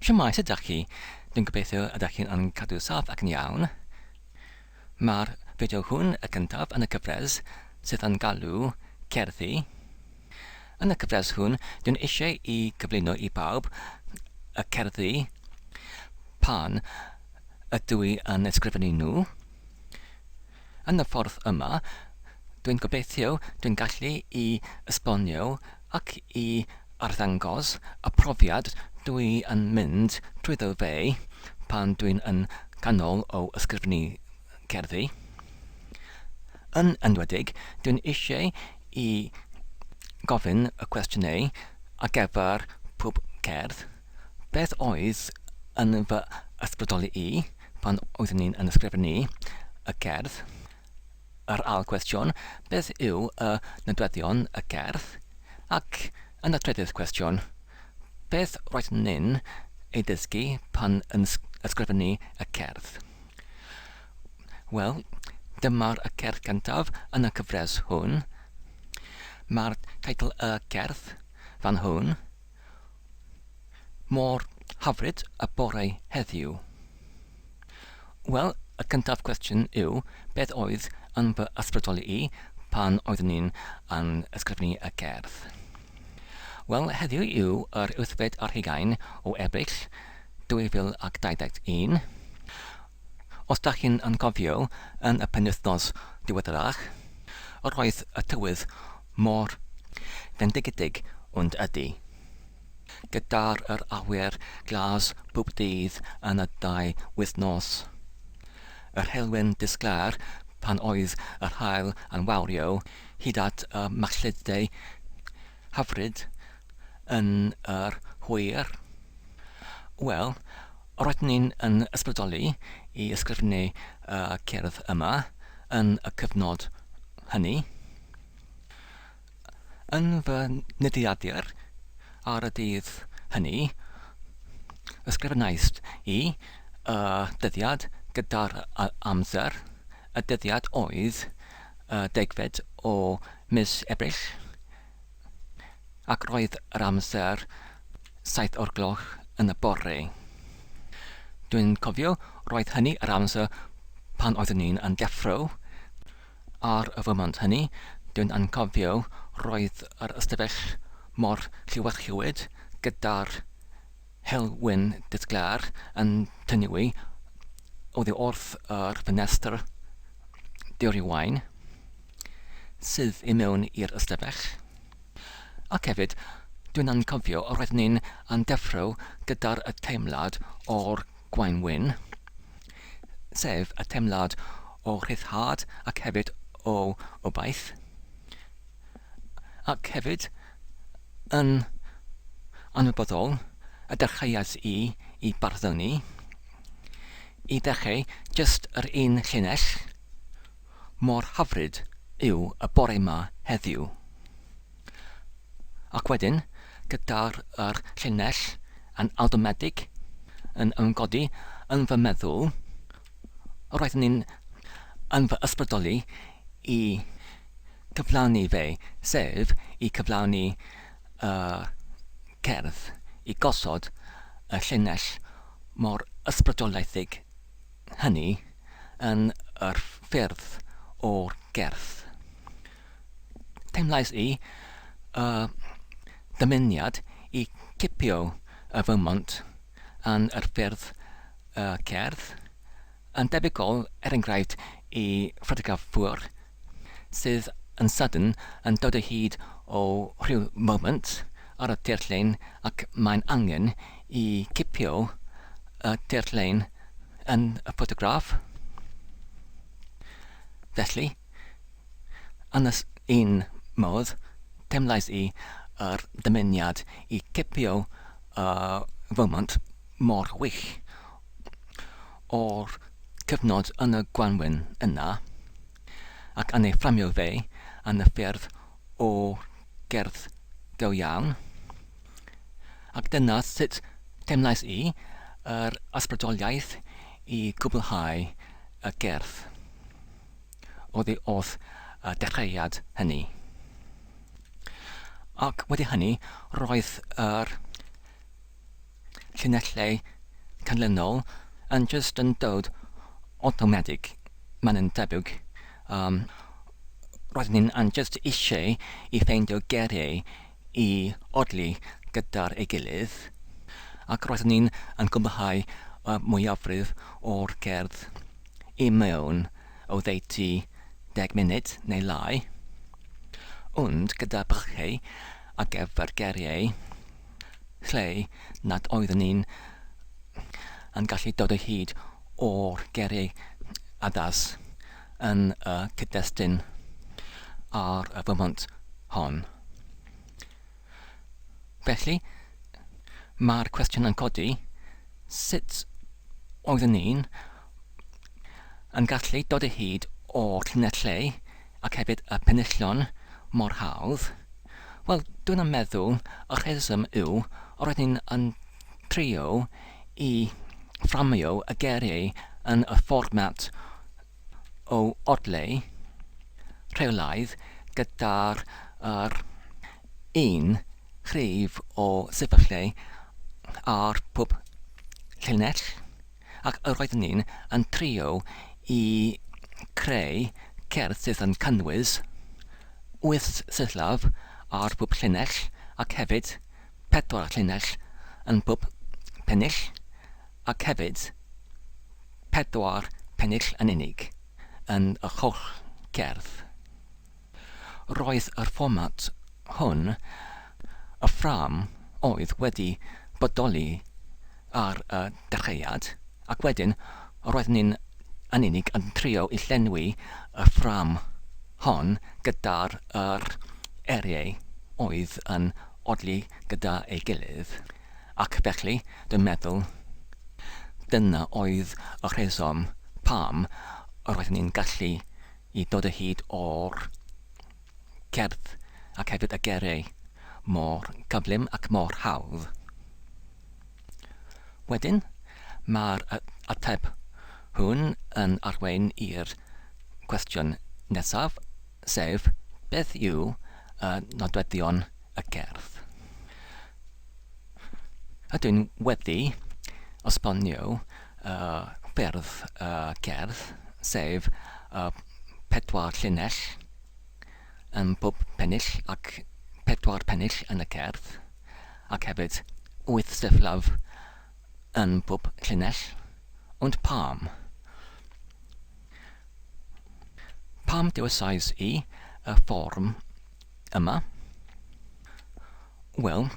Shwmae, sut ydach chi? Dwi'n gobeithio ydach chi'n yn cadw saff ac yn iawn. Mae'r fideo hwn, y gyntaf yn y cyfres sydd yn galw Cerddi. Yn y cyfres hwn, dwi'n eisiau i gyflwyno i bawb y cerddi pan ydw i yn ysgrifennu nhw. Yn y ffordd yma, dwi'n gobeithio dwi'n gallu i esbonio ac i arddangos y profiad dwi yn mynd drwyddo fe pan dwi'n yn ganol o ysgrifnu cerddi. Yn enwedig, dwi'n eisiau i gofyn y cwestiynau ar gyfer pob cerdd, beth oedd yn fy ysbrydoli i, pan oeddwn i'n yn ysgrifennu y gerdd, yr ail gwestiwn, beth yw y nodweddion y gerdd, ac yn y trydydd cwestiwn, beth roeddwn ni'n ei ddysgu pan yn ysgrifennu y cerdd? Wel, dyma'r y cerdd gyntaf yn y cyfres hwn. Mae'r teitl y cerdd fan hwn. Mor hyfryd y bore heddiw. Wel, y cyntaf cwestiwn yw, beth oedd yn fy ysbrydoli i pan oeddwn i'n yn ysgrifennu y gerdd? Wel, heddiw yw yr wythfed ar hugain o Ebrill 2021. Os dach chi'n anghofio, yn y penwythnos diweddarach, roedd y tywydd mor fendigedig, ond ydy, gyda'r yr awyr glas bob dydd yn y ddau wythnos, yr helwy'n disglair pan oedd yr haul yn wawrio hyd at y machluddiau hyfryd yn yr hwyr? Wel, Roedden ni'n yn ysbrydoli i ysgrifennu y cerdd yma yn y cyfnod hynny. Yn fy nyddiadur ar y dydd hynny, ysgrifennais i y dyddiad gyda'r amser, y dyddiad oedd y degfed o mis Ebrill ac roedd yr amser saith o'r gloch yn y bore. Dwi'n cofio roedd hynny yr amser pan oeddwn i'n yn deffro, ar y foment hynny dwi'n anghofio roedd yr ystafell mor lliwedlliwed gyda'r helwyn disglair yn tynnu'i oddi wrth yr ffenestr diorywain. sydd i mewn i'r ystafell. Ac hefyd, dwi'n anghofio, roedd ni'n yn deffro gyda'r y teimlad o'r Gwaun Wyn, sef y teimlad o rhyddhad ac hefyd o obaith. Ac hefyd, yn anwybodol, y dechreuais i i barddoni, i ddechrau jyst yr un llinell, Mor hyfryd yw y bore 'ma heddiw. Ac wedyn, gyda'r yr llinell yn awtomedig yn ymgodi yn fy meddwl, roedd hynny'n yn fy ysbrydoli i gyflawni fe, sef i cyflawni y cerdd, i gosod y llinell mor ysbrydolaethig hynny yn yr ffyrdd o'r gerdd. Teimlais i y dymuniad i gipio y Vermont yn yr ffyrdd y cerdd, yn debygol er enghraifft i ffotograffwyr sydd yn sydyn yn dod o hyd o ryw foment ar y tirlun ac mae'n angen i gipio y tirlun yn y ffotograff. Felly, yn y un modd, teimlais i yr dymuniad i gipio y foment mor wych. o'r cyfnod yn y gwanwyn yna, ac yn ei fframio fe yn y ffyrdd o gerdd go iawn. Ac dyna sut teimlais i, yr ysbrydoliaeth i gwblhau y gerdd oddi wrth y dechreuad hynny. Ac wedi hynny, roedd yr llinellau canlynol yn jyst yn dod awtomatig, mae'n yn debyg. Um, roedd ni'n jyst eisiau i ffeindio geiriau i odli gyda'r ei gilydd, ac roedd ni'n yn gwblhau y mwyafrif o'r gerdd i mewn o ddeutu deg munud neu lai, ond gyda bychau a gyfer geiriau lle nad oeddwn i yn gallu dod o hyd o'r geiriau addas yn y cyd-destun ar y foment hon. Felly, mae'r cwestiwn yn codi, sut oeddwn i'n yn gallu dod o hyd o'r llinellau ac hefyd y penillion mor hawdd. Wel, dwi'n yn meddwl y rheswm yw o roedd ni'n yn trio i fframio y geiriau yn y fformat o odleu rheolaidd gyda'r yr un rhif o sefyllfau ar pob llinell. Ac yr oeddwn i'n yn trio i creu cerdd sydd yn cynnwys wyth syllab ar bob llinell ac hefyd pedwar llinell yn bob pennill ac hefyd pedwar pennill yn unig yn yr holl gerdd. Roedd yr fformat hwn, y ffrâm oedd wedi bodoli ar y dechreuad, ac wedyn roeddwn ni'n yn unig yn trio i llenwi y ffrâm hon gyda'r yr eiriau oedd yn odli gyda ei gilydd, ac felly dwi'n meddwl dyna oedd y rheswm pam roeddwn ni'n gallu i ddod o hyd o'r cerdd ac hefyd y gerei mor gyflym ac mor hawdd. Wedyn, mae'r ateb hwn yn arwain i'r cwestiwn nesaf, sef, beth yw y nodweddion y gerdd? Ydw i'n wedi esbonio y ffyrdd y cerdd, sef y pedwar llinell ym mhob pennill ac pedwar pennill yn y cerdd, ac hefyd wyth sefyllaf yn mhob llinell. Ond pam? Pam dewisiais i y fforwm yma. Wel,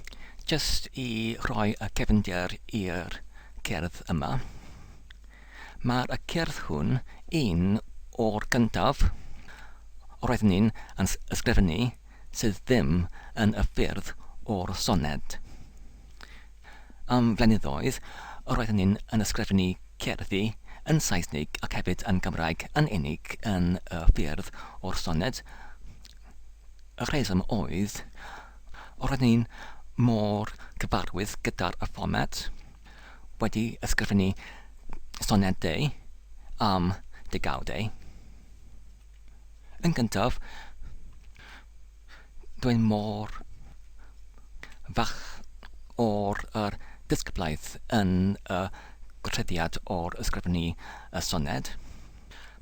jyst i roi y cefndir i'r cerdd yma, mae'r y cerdd hwn un o'r gyntaf roedd ni'n yn ysgrifennu sydd ddim yn y ffyrdd o'r soned. Am flynyddoedd, roeddwn ni'n yn ysgrifennu cerddi yn Saesnig ac hefyd yn Gymraeg yn unig yn y ffyrdd o'r soned. Y rheswm oedd, roeddwn ni'n mor gyfarwydd gyda'r fformat, wedi ysgrifennu sonedau am degawdau. Yn gyntaf, Dwi mor falch o'r yr disgyblaeth yn y gwahoddiad o'r ysgrifennu y soned.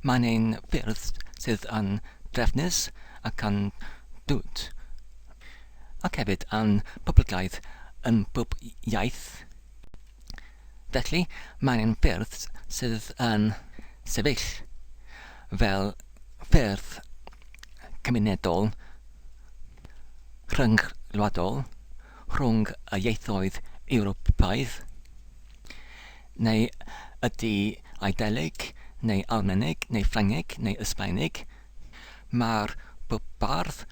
Mae'n ein ffyrdd sydd yn drefnus ac yn dwt, ac hefyd yn poblogaidd yn bob iaith. Felly, mae angen ffyrdd sydd yn sefyll fel ffyrdd cymunedol rhyngwladol rhwng y ieithoedd Ewropeaidd, neu ydy Eidaleg, neu Almaeneg, neu Ffrangeg, neu Ysbaeneg, Mae'r bardd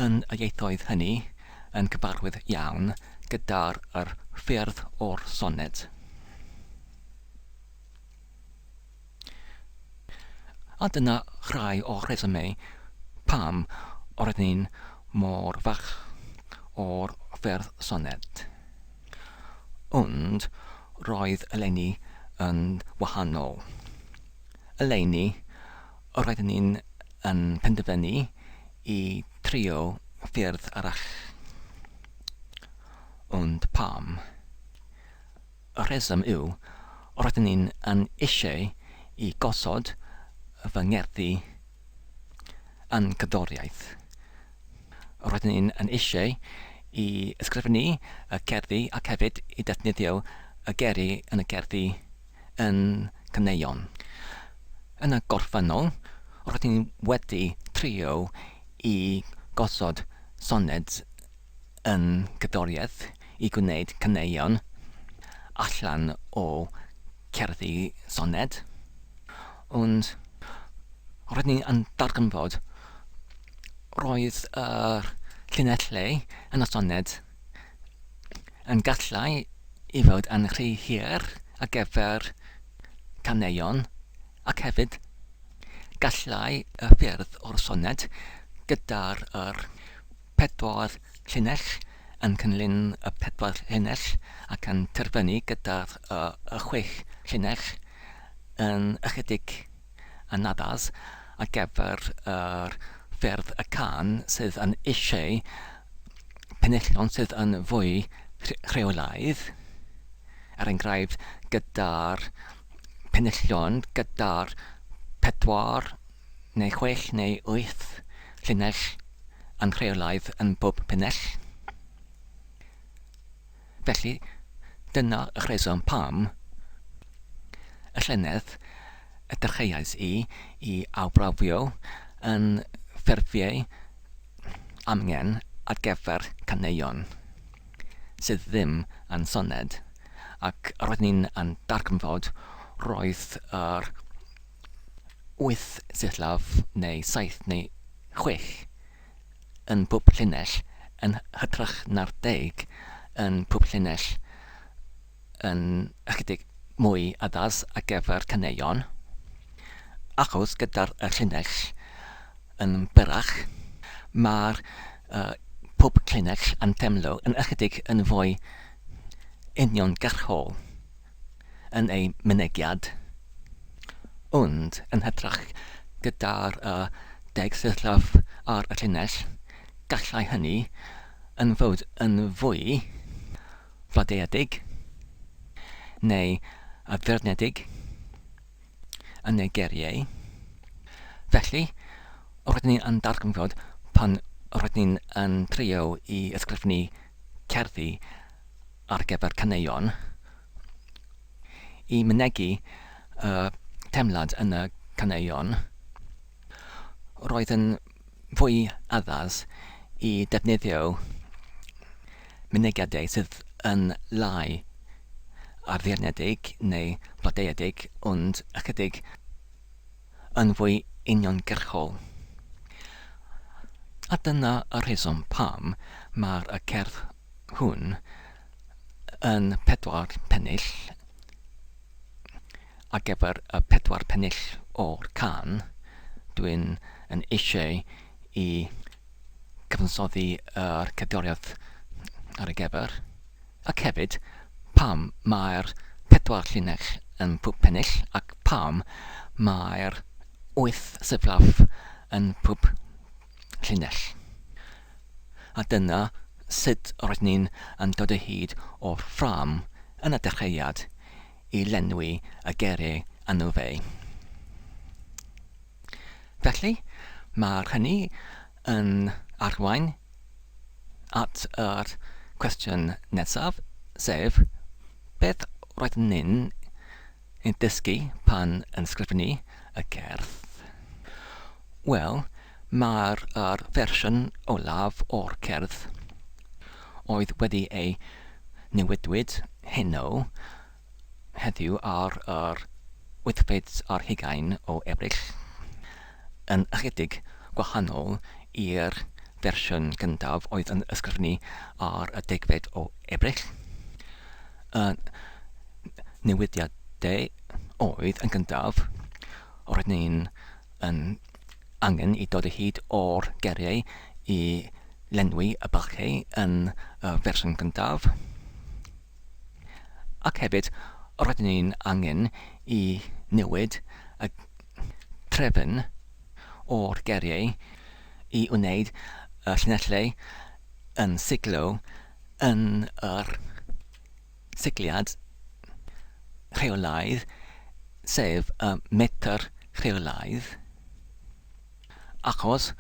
yn y ieithoedd hynny yn cyfarwydd iawn gyda'r yr ffyrdd o'r soned. A dyna rhai o'r rhesymau pam roedden ni'n mor fach o'r ffyrdd soned. Ond roedd eleni yn wahanol. Eleni, Roedden ni yn penderfynu i trio ffyrdd arall. Ond pam? Y rheswm yw, roedden ni yn eisiau i gosod fy ngerddi yn cerddoriaeth, Roedden ni yn eisiau i ysgrifennu y cerddi ac hefyd i ddefnyddio y geri yn y cerddi yn caneuon. Yn y gorffennol, roedden ni wedi trio i gosod soned yn gerddoriaeth i gwneud caneuon allan o gerddi soned, ond roedd ni yn darganfod roedd yr llinellau yn y soned yn gallai i fod yn rhy hir ar gyfer caneuon ac hefyd gallai y ffyrdd o'r soned gyda'r yr pedwar llinell, yn cynllun y pedwar llinell ac yn terfynu gyda'r y chwech llinell yn ychydig anaddas ar gyfer yr ffyrdd y cân sydd yn eisiau penillion sydd yn fwy rheolaidd, er enghraifft gyda'r penillion gyda'r pedwar neu chwech neu wyth llinell anrheolaidd yn bob penell. Felly, dyna y rheswm pam y llynedd y dechreuais i i awbrafio yn ffurfiau amgen ar gyfer caneuon sydd ddim yn soned, ac roeddwn i'n darganfod roedd yr wyth sillafu neu saith neu chwech yn pob llinell, yn hytrach na'r deg yn pob llinell, yn ychydig mwy addas ar gyfer caneuon, achos gyda'r llinell yn byrrach, mae pob llinell yn teimlo yn ychydig yn fwy uniongyrchol. yn ei mynegiad, ond yn hytrach gyda'r deg sillaff ar y llinell, gallai hynny yn fod yn fwy fladeuedig neu addurnedig yn ei geriau. Felly, rydyn ni yn darganfod pan rydyn ni yn trio i ysgrifennu cerddi ar gyfer caneuon i mynegi y teimlad yn y caneuon, roedd yn fwy addas i ddefnyddio mynegiadau sydd yn lai ar ddeyrnedig neu blodeuedig ond ychydig yn fwy uniongyrchol. A dyna y rheswm pam mae'r y cerdd hwn yn pedwar pennill ar gyfer y pedwar pennill o'r can, dwi'n yn eisiau i gyfansoddi yr cerddoriaeth ar y gyfer, ac hefyd pam mae'r pedwar llinell yn pwp pennill ac pam mae'r wyth seflaf yn pwp llinell. A dyna sut roedd ni'n yn dod o hyd o'r ffrâm yn y dechreuad i lenwi y gere anu fe. Felly, mae hynny yn arwain at yr cwestiwn nesaf, sef beth roedd ni'n Yn dysgu pan yn sgrifennu y gerdd? Wel, mae'r yr fersiwn olaf o'r cerdd oedd wedi ei newidwyd heno heddiw ar yr wythfed ar hugain o Ebrill. yn ychydig gwahanol i'r fersiwn gyntaf oedd yn ysgrifennu ar y degfed o Ebrill. Y newidiadau oedd yn gyntaf, roedd ni'n yn angen i dod o hyd o'r geiriau i lenwi y bylchau yn y fersiwn gyntaf. Ac hefyd, rydyn ni'n angen i newid y trefn o'r geriau i wneud y llinellau yn siglo yn yr sigliad rheolaidd, sef y metr rheolaidd. achos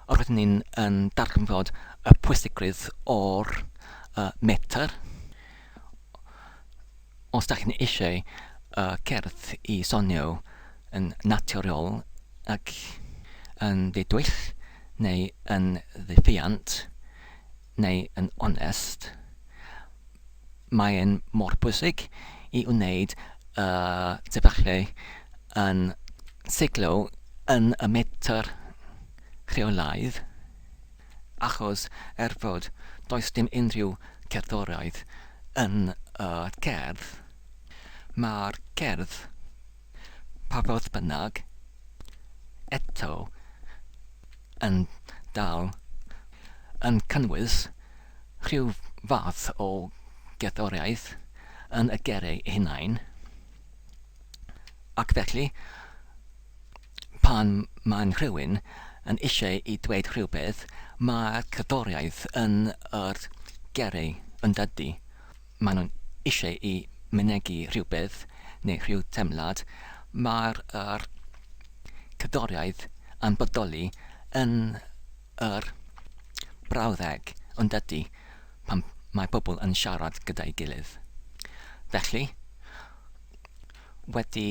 roeddwn ni'n yn darganfod y pwysigrwydd o'r uh, metr. Os da chi'n eisiau uh, cerdd i sonio yn naturiol ac yn ddidwyll neu yn ddiffiant, neu yn onest, mae'n mor bwysig i wneud y sefyllfa yn seiclo yn y metr rheolaidd, achos er fod does dim unrhyw gerddoriaeth yn y cerdd, mae'r cerdd Pa fodd bynnag, eto, yn dal yn cynnwys rhyw fath o gerddoriaeth yn y gerrig eu hunain, ac felly, pan mae'n rhywun yn eisiau i dweud rhywbeth, mae'r cerddoriaeth yn yr gerrig, yn dydy? maen nhw'n eisiau i mynegi rhywbeth neu rhyw deimlad, mae'r yr cerddoriaeth yn bodoli yn yr brawddeg yn dydy pan mae pobl yn siarad gyda'i gilydd. Felly, wedi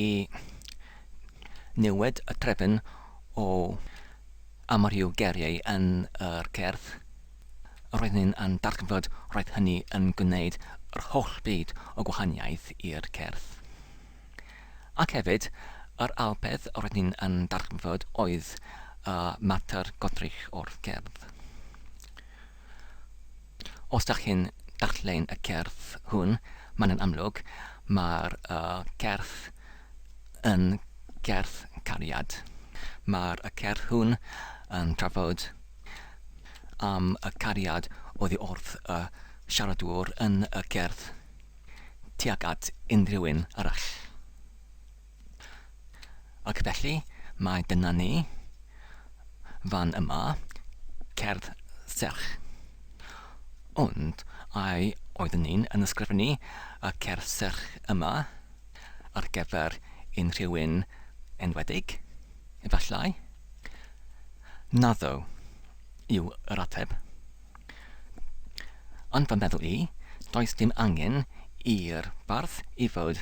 newid y trefn o A mor yw geiriau yn yr cerdd? Roedden ni yn darllen fod roedd hynny yn gwneud yr holl byd o gwahaniaeth i'r cerdd. Ac hefyd, yr ail peth roedden ni yn darllen fod oedd y mater godrych o'r cerdd. Os dach chi'n darllen y cerdd hwn, mae'n yn amlwg, mae'r cerdd yn gerdd cariad. Mae'r cerdd hwn yn trafod am y cariad oddi wrth y siaradwr yn y gerdd tuag at unrhyw un arall. Ac felly, mae dyna ni, fan yma, cerdd serch. Ond ai oeddwn i'n yn ysgrifennu y cerdd serch yma ar gyfer unrhyw un enwedig? Efallai. Naddo, yw yr ateb. Ond fy meddwl i, does dim angen i'r bardd i fod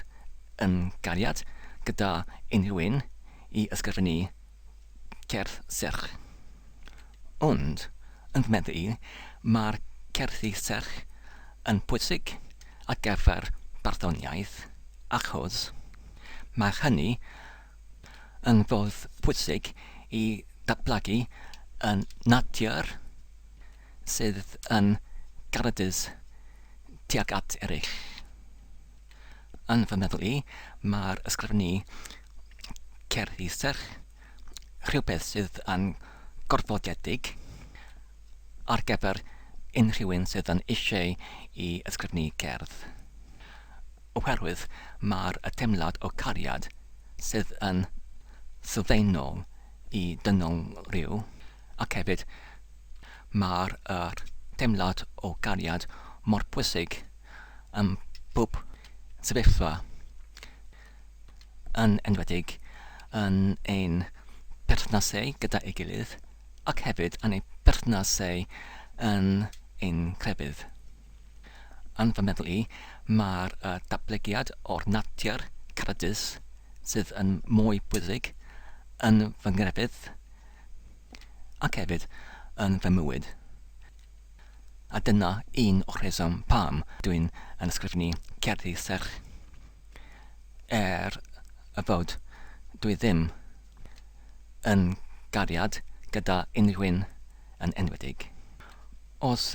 yn gariad gyda unrhyw un i ysgrifennu cerdd serch. Ond, yn fy meddwl i, mae'r cerddi serch yn pwysig ar gyfer barddoniaeth achos mae hynny yn ffordd pwysig i ddatblygu y natur sydd yn garedus tuag at eraill. Yn fy meddwl i, mae'r ysgrifennu cerddi serch rhywbeth sydd yn gorfodiedig ar gyfer unrhyw un sydd yn eisiau i ysgrifennu cerdd. oherwydd mae'r teimlad o gariad sydd yn sylfaenol i dynol rhyw, ac hefyd mae'r teimlad o gariad mor bwysig ym mhob sefyllfa, yn enwedig yn ein perthnasau gyda'i gilydd ac hefyd yn ein perthnasau yn ein crefydd. Yn fy meddwl i, mae'r datblygiad o'r natur cyffredus sydd yn mwy pwysig yn fy nghrefydd ac hefyd yn fy mywyd. A dyna un o'r rheswm pam dwi'n yn ysgrifennu cerddi serch er fod dwi ddim yn gariad gyda unrhyw un yn enwedig. Os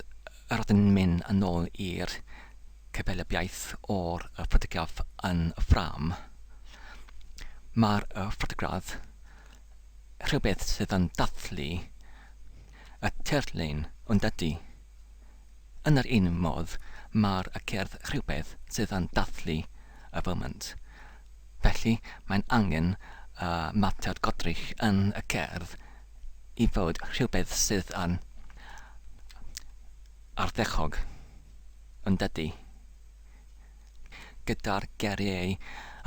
rydyn ni'n mynd yn ôl i'r cyfelybiaeth o'r ffotograff yn y ffrâm, mae'r ffotograff rhywbeth sydd yn dathlu y tirlun, yn dydy? Yn yr un modd, mae'r y cerdd rhywbeth sydd yn dathlu y foment. Felly, mae'n angen y matiad godrych yn y cerdd i fod rhywbeth sydd yn ardderchog, yn dydy? gyda'r geiriau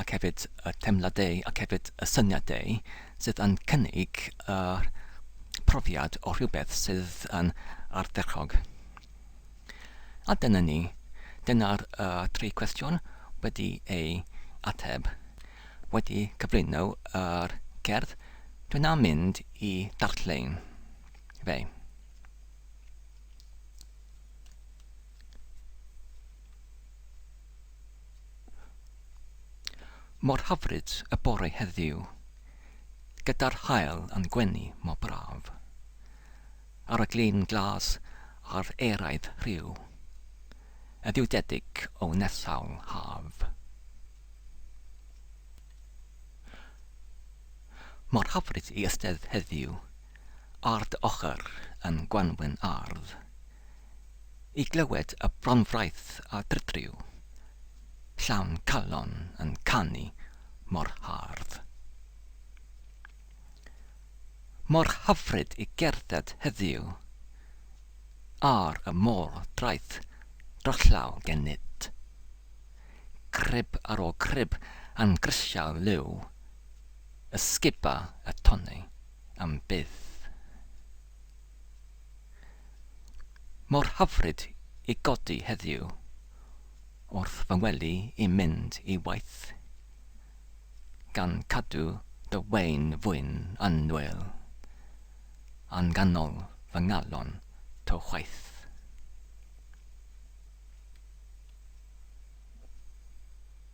ac hefyd y teimladau ac hefyd y syniadau sydd yn cynnig y profiad o rhywbeth sydd yn ardderchog. A dyna ni. Dyna'r y tri cwestiwn wedi ei ateb. Wedi cyflwyno yr cerdd, dwi'n am mynd i darllen fe. Mor hyfryd y bore heddiw, gyda'r haul yn gwenu mor braf, ar y glin glas a'r eraidd rhyw, y ddiwdedig o nesawl haf. Mor hyfryd i ystedd heddiw, Ard ochr yn gwanwyn ardd. I glywed y bronfraith a drydriw. Llawn calon yn canu mor hardd. Mor hyfryd i gerdded heddiw. Ar y môr draeth drollaw gen nid. Crib ar ôl crib yn grisial liw. Ysguba y tonnau. am byth. Mor hyfryd i godi heddiw wrth fy wely i mynd i waith, gan cadw dy wain fwyn yn nwyl, a'n ganol fy ngalon to chwaith.